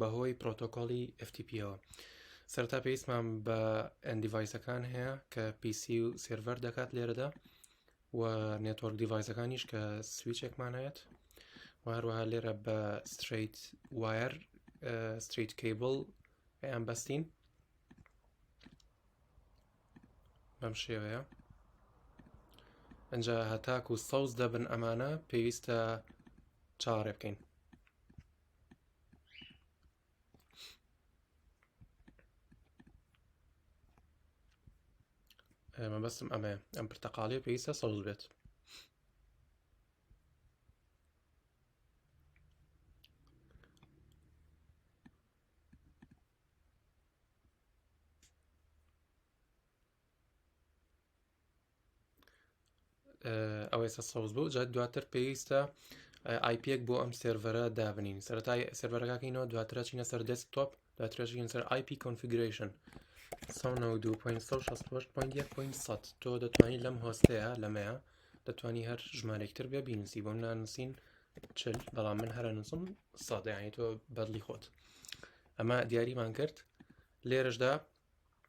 بەهۆی پرۆتۆکۆلی FTP ەوە سەرتا پێویستمان بە ئەندیڤایسەکان هەیە کە PC و سێرڤەر دەکات لێرەدا و نێتۆرک دیڤایسەکانیش کە سویچێکمان هەیەت و هەروەها لێرە بە ستریت وایر ستریت کەیبل ئەیان بەستین بەم شێوەیە ئەجا هەتاک و سەوز دەبن ئەمانە پێویستە چاڕێ بکەین مەبەستم ئەمە ئەم پرتەقاڵی پێویستە سەوز بێت ئەوێسە سەوز بوو جات دواتر پێویستە آیپێک بۆ ئەم سێرڤەرە دابنین سەرای سەرەرەکەکەینەوە دواترە چینە سەر دەست تۆپ دواترەژین سەر آیP کۆنفیگرشن تۆ دەتوانانی لەم هۆستەیە لەمەیە دەتوانی هەر ژمارێکتر بێ بینوسی بۆم نانووسین چل بەڵام من هەرە نووسم سادەیانی تۆ بەدلی خۆت ئەمە دیاریمان کرد لێرەشدا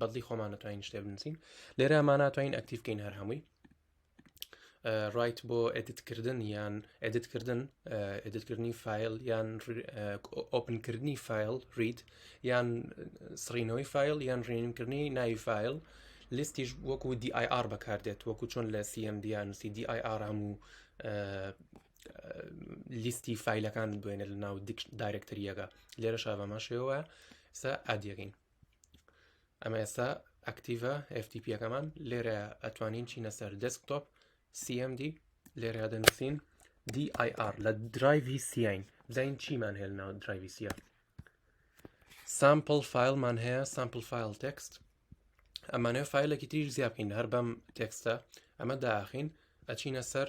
بەدڵی خۆمان ناتوانین شتێ بنووسین لێرە ما ناتوانین ئەکتیف بکەین هەر هەمووی ڕایت بۆ ئەدتکردن یان ئەدتکردن ئەدتکردنی فیل یان ئۆپنکردنی فیل ریت یان سڕینەوەی فیل یان ڕێنکردنی ناوی فیل لیستیش وەکو DIR بەکاردێت وەکو چۆن لە CMD نووسی DIR هەموو لیستی فیلەکان بێنە لە ناو دایرەکتەریەکە لێرە شابەماشەوە سا ئادیەکەین ئەمە ئێستا ئەکتیڤە FTP یەکەمان لێرە ئەتوانین چینە سەر دەستکتۆپ CMD لێرە دەنووسین DIR لە درایڤی سیین بزین چیمان هێل ناو درایڤی سیە سامپل فیلمان هەیە سامپل فیل تەکست ئەمانەوە فیلێکی تریش زیابکەین هەر بەم تێکستە ئەمە داخین ئەچینە سەر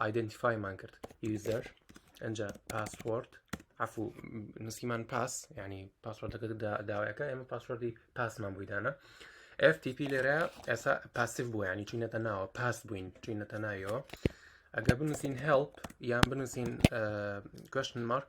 ئایدنتیفایمان کرد یوزەر ئەجا پاسپۆرت عفو نسیمان پاس ینی پاسۆردەکە داوایەکە ئێمە پاسۆردی پاسمان بوویدانە FTP لێرە ئێسا پاسیف بوو ینی چینەتە ناوە پاس بووین چینەتە ناویەوە ئەگە بنووسین هەڵپ یان بنووسین کوشتن مارک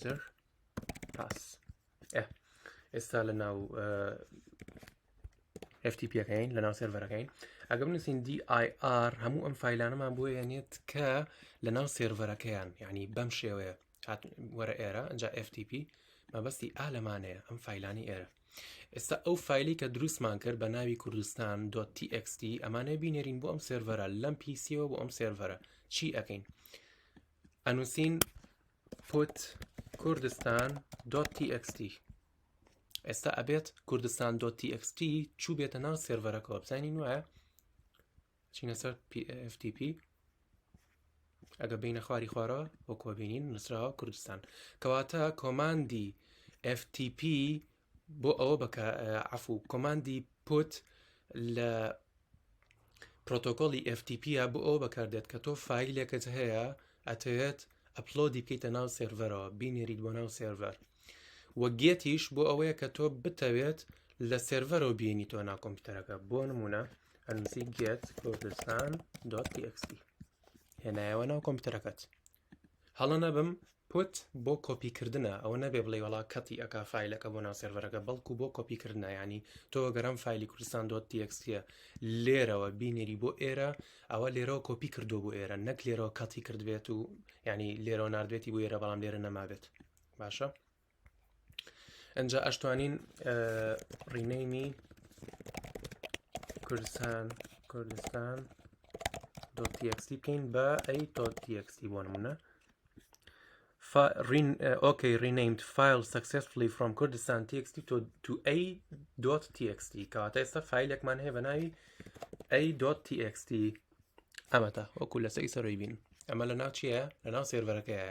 زر پاس ئێستا لە ناو FTPەکەین لە ناو سێرڤەرەکەین ئەگەم نووسین DIR هەموو ئەم فیلانەمان بۆ یەنێت کە لە ناو سێرڤەرەکەیان یعنی بەم شێوەیە وەرە ئێرە ئەجا FTP مەبەستی ئا لەمانەیە ئەم فیلانی ئێرە ئێستا ئەو فیلی کە دروستمان کرد بە ناوی کوردستان .txt ئەمانەیە بینێرین بۆ ئەم سێرڤەرە لەم پیسیەوە بۆ ئەم سێرڤەرە چی ئەەکەین ئەنووسین put کوردستان دۆت تی ئێکس تی ئێستا ئەبێت کوردستان دۆت تی ئێکس تی چوو بێتە ناو سێرڤەرەکەەوە بزانین وایە چینە سەر PFTP ئەگە بینە خواری خوارەوە وەکۆبینین نووسراوە کوردستان کەواتە کۆماندی FTP بۆ ئەوە بەکە عفو کۆماندی پوت لە پرۆتۆکۆلی FTP بۆ ئەوە بەکاردێت کە تۆ فیلێکت هەیە ئەتەوێت ئەپلۆدی بکەیتە ناو سێرڤەرەوە بینێریت بۆ ناو سێرڤەر وە گێتیش بۆ ئەوەیە کە تۆ بتەوێت لە سێرڤەرەوە بینی تۆ ناکۆمپیوتەرەکە بۆ نمونە ئەنسی گێت کوردستان.txt هێنایەوە ناو کۆمپیوتەرەکەت هەڵە نەبم پوت بۆ کۆپی کردنە ئەوە نەبێ بڵێی وەڵا کەتی ئەکا فایلەکە بۆ ناو سێرڤەرەکە بەڵکو بۆ کۆپی کردنە یانی تۆ ئەگەر ئەم فایلی کوردستان دۆت تیەکسیە لێرەوە بینێری بۆ ئێرە ئەوە لێرەوە کۆپی کردو بۆ ئێرە نەک لێرەوە کەتی کردبێت و ینی لێرەوە نردبێتی بۆ ئێرە بەڵام لێرە نەمابێت باشە ئەجا ئەشتوانین ڕینەیمی کوردستان کوردستان دۆتیەکسی بکەین بە ئەی تۆتیەکسی بۆ نمونە ڕین ئۆکەی ڕینەیمت فیل سەکسسفلی فرۆم کوردستان تێکستی تۆ تو ئەی دۆت تێکستی کەواتە ئێستا فیلێکمان هەیە بە ناوی ئەی دۆت تێکستی ئەمەتا وەکو لەسەی سەرۆی بین ئەمە لە ناو چییە لە ناو سێرڤەرەکەیە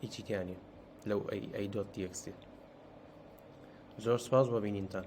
هیچی تیا نیە لەو ئەی ئەی دۆت تێکسێ زۆر سپاس بۆ بینینتان